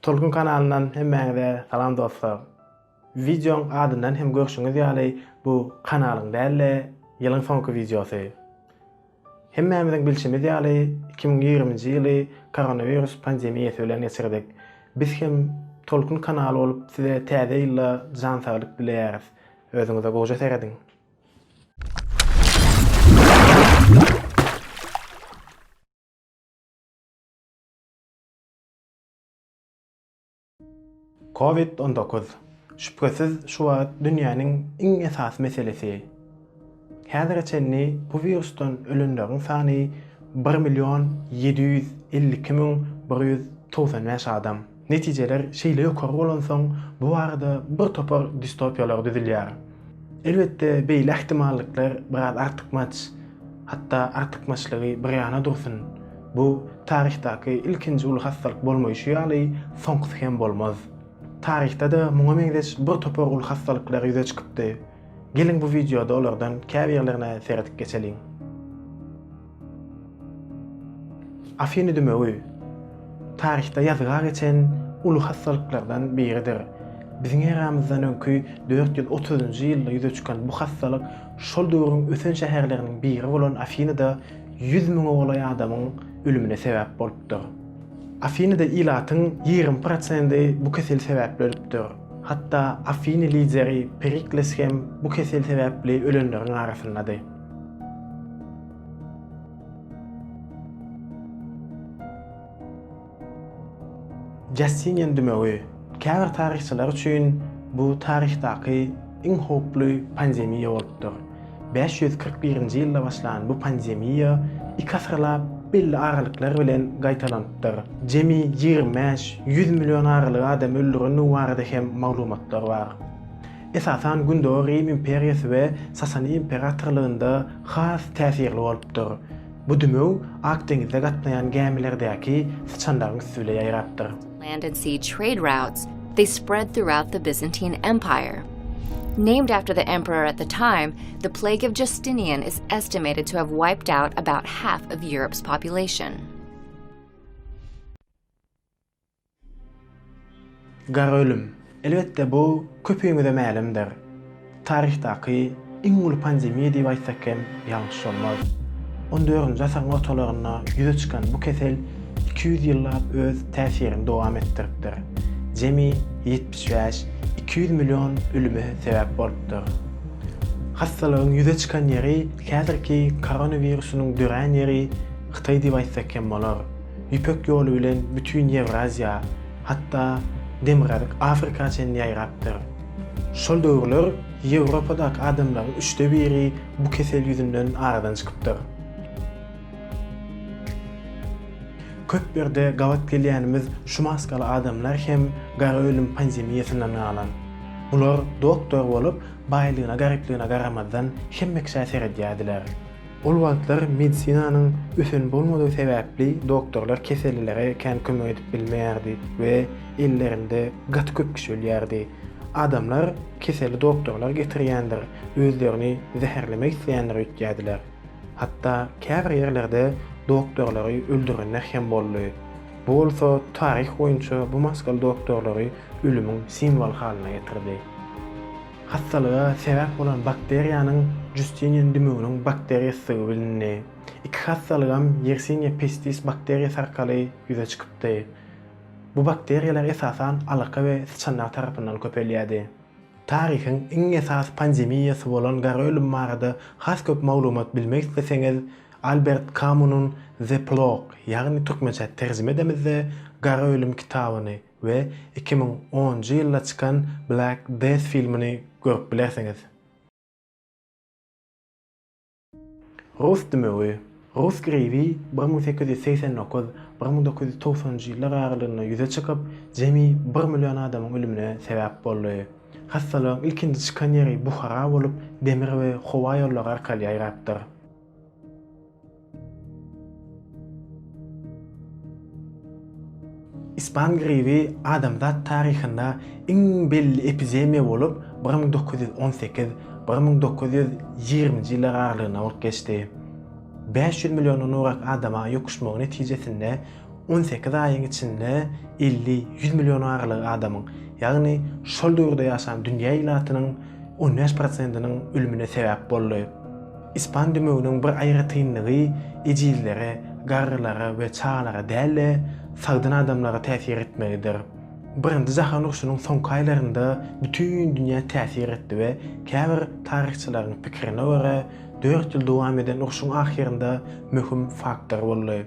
Tolkun kanalyndan hemmäňize salam dostlar. Wideoň adyndan hem görşüňiz ýaly bu kanalyň däl-de ýylyň soňky wideosy. Hemmämiziň bilşimiz ýaly iki müň ýigriminji ýyly koronawirus pandemiýasy bilen geçirdik. Biz hem Tolkun kanaly bolup size täze ýylda jan saglyk dileýäris. Özüňize goja serediň. Covid on dokuz, şübhesiz şu wagt dünýäniň iň esasy meselesi. Häzire çenli bu wirusdan ölenleriň sany bir million ýedi ýüz elli iki müň bir ýüz togsan bäş adam. Netijeler şeýle ýokary bolansoň, bu barada bir topar distopiýalar düzülýär. Elbetde, beýle ähtimallyklar biraz artykmaç. Hatda artykmaçlygy bir ýana dursun, bu taryhdaky ilkinji uly hassalyk bolmaýşy ýaly, soňkusy hem bolmaz. Taryhda-da muňa meňzeş bir topar uly hassalyklar ýüze çykypdy. Geliň bu wideoda olardan käbirlerine seredip geçeliň. Afiny dümewi taryhda ýazga geçen uly hassalyklardan biridir. Biziň eramyzdan öňki dört ýüz otuzynjy ýylda ýüze çykan bu hassalyk şol döwrüň ösen şäherleriniň biri bolan Afinada ýüz müňe golaý adamyň ölümine sebäp bolupdyr. Afinada ilatyň ýigrimi prosendi bu kesel sebäpli ölüpdir. Hatda Afiny lideri Perikles hem bu kesel sebäpli ölenleriň arasyndady. Justinian dümewi, käbir taryhçylar üçin bu taryhdaky iň howply pandemiýa bolupdyr. Bäş ýüz kyrk birinji ýylda başlan bu pandemiýa iki asyrlap belli aralyklar bilen gaýtalanypdyr. Jemi ýigrimi bäş, ýüz million aralygy adamy öldürendigi barada hem maglumatlar bar. esasan Gündogar Rim imperiýasy we Sasaniýa imperatorlygynda has täsirli bolupdyr. Bu dümew Ak deňizde gatnaýan gämilerdäki syçanlaryň üsti bile ýaýrapdyr. land and sea trade routes, they spread throughout the Byzantine Empire. Named after the emperor at the time, the Plague of Justinian is estimated to have wiped out about half of Europe's population. Gara ölüm, elbetde, bu köpüňize mälimdir. Taryhdaky iň uly pandemiýa diýip aýtsak hem ýalňyş bolmaz. On dördünji asyryň ortalarynda ýüze çykan bu kesel iki ýüz ýyllap öz täsirini dowam etdiripdir, jemi ýetmiş bäş, iki ýüz million ölüme sebäp bolupdyr. Hassalygyň ýüze çykan ýeri, häzirki koronawirusynyň dörän ýeri Hytaý diýip aýtsak hem bolar. Ýüpek ýoly bilen bütin Ýewraziýa, hatda Demirgazyk Afrika çenli ýaýrapdyr. Şol döwürler Ýewropadaky adamlaryň üçde biri bu kesel ýüzünden aradan çykypdyr. Köp ýerde gabat gelýänimiz şu maskaly adamlar hem gara ölüm pandemiýasyndan galan. Bular doktor bolup, baýlygyna-garyplygyna garamazdan hemme kişä seredýärdiler. Ol wagtlar medisinanyň ösen bolmadygy sebäpli doktorlar kesellilere kän kömek edip bilmeýärdi we ellerinde gaty köp kişi ölýärdi. Adamlar keseli doktorlar getirýändir, özlerini zäherlemek isleýändir öýtýärdiler. Hatda käbir ýerlerde doktorlary öldürenler hem boldy. Bu bolsa taryh boýunça bu maskaly doktorlary ölümiň simwoly halyna getirdi. Hassalyga sebäp bolan bakteriýanyň Justinian dümewiniň bakteriýasydygy bilindi. Iki hassalygam Yersinia pestis bakteriýasy arkaly ýüze çykypdy. Bu bakteriýalar esasan alaka we syçanlar tarapyndan köpelýärdi. Taryhyň iň esasy pandemiýasy bolan gara ölüm barada has köp maglumat bilmek isleseňiz, Albert Kamunyň The Plague, ýagny türkmençe terjime edemizde, Gara ölüm kitabyny, we iki müň onunjy ýylda çykan Black Death filmini görüp bilersiňiz. Rus dümewi, Rus gribi bir müň sekiz ýüz segsen dokuz, bir müň dokuz ýüz togsanynjy ýyllar aralygynda ýüze çykyp, jemi bir million adamyň ölümine sebäp boldy. Hassalygyň ilkinji çykan ýeri Buhara bolup, demir we howa ýollary arkaly ýaýrapdyr. Ispan gribi adamzat taryhynda iň belli epidemiýa bolup, bir müň dokuz ýüz on sekiz, bir müň dokuz ýüz ýigriminji ýyllar aralygynda bolup geçdi. Bäş ýüz milliondan urak adama ýokuşmagy netijesinde On sekiz aýyň içinde elli, ýüz million aralygy adamyň, ýagny şol döwürde ýaşan dünýä ilatynyň on bäş prosentiniň ölümine sebäp boldy. Ispan dümewiniň bir aýratynlygy ejizlere, garrylara we çagalara däl-de, sagdyn adamlara täsir etmegidir. Birinji jahan urşunyň soňky aýlarynda bütin dünýä täsir etdi we käbir taryhçylaryň pikirine görä, dört ýyl dowam eden urşuň ahyrynda möhüm faktor boldy.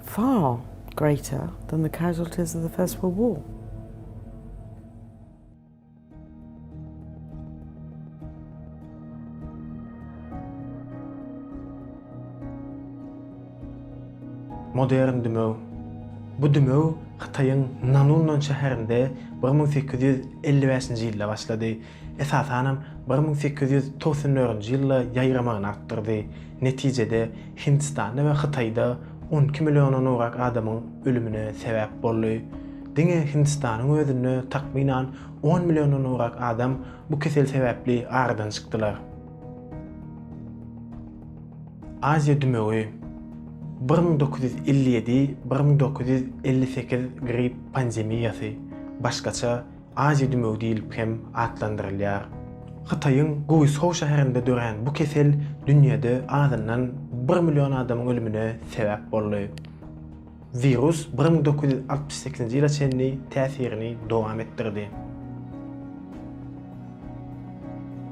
Far greater than the casualties of the First World War. Modern dümew. Bu dümew Hytaýyň Nanunnan şäherinde bir müň sekiz ýüz elli bäşinji ýylda başlady. esasanam bir müň sekiz ýüz togsan dördünji ýylda ýaýramagyny artdyrdy, netijede, Hindistanda we Hytaýda on iki milliondan gowrak adamyň ölümine sebäp boldy. Diňe Hindistanyň özünde takmynan on milliondan gowrak adam bu kesel sebäpli aradan çykdylar. Aziýa dümewi, bir müň dokuz ýüz elli ýedi-bir müň dokuz ýüz elli sekiz gripp pandemiýasy, başgaça, Aziýa dümewi diýlip hem atlandyrylýar. Hytaýyň Guýsou şäherinde dörän bu kesel dünýäde azyndan bir million adamyň ölümine sebäp boldy. Wirus bir müň dokuz ýüz altmyş sekizinji ýyla çenli täsirini dowam etdirdi.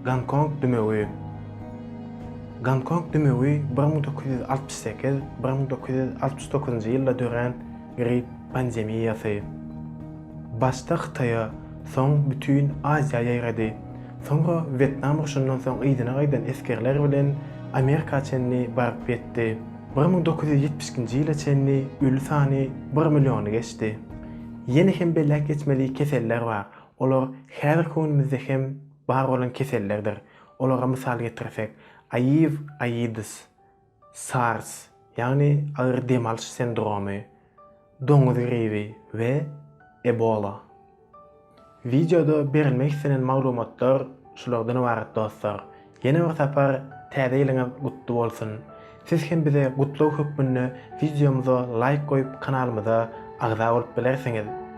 Gonkong dümewi Gonkong dümewi bir müň dokuz ýüz altmyş sekiz, bir müň dokuz ýüz altmyş dokuzynjy ýylda dörän grip pandemiýasy. Başda Hytaýa, soň bütin Aziýa ýaýrady. Soňra Wýetnam urşundan soň yzyna gaýdan esgerler bilen Amerika çenli baryp ýetdi. Bir müň dokuz ýüz ýetmiş ikinji ýyla çenli öli sany bir milliony geçdi. Ýene hem belläp geçmeli keseller bar, olar häzirki günümizde hem bar bolan kesellerdir. Olara mysal getirsek, AIV, AIDS. SARS, ýagny agyr dem alyş sendromy, doňuz gribi we Ebola. Wideoda berilmek islenen maglumatlar şulardan ybarat dostlar. Ýene bir sapar Täze ýylyňyz gutly bolsun! Siz hem bize gutlag hökmünde wideomyza laýk goýup kanalymyza agza bolup bilersiňiz.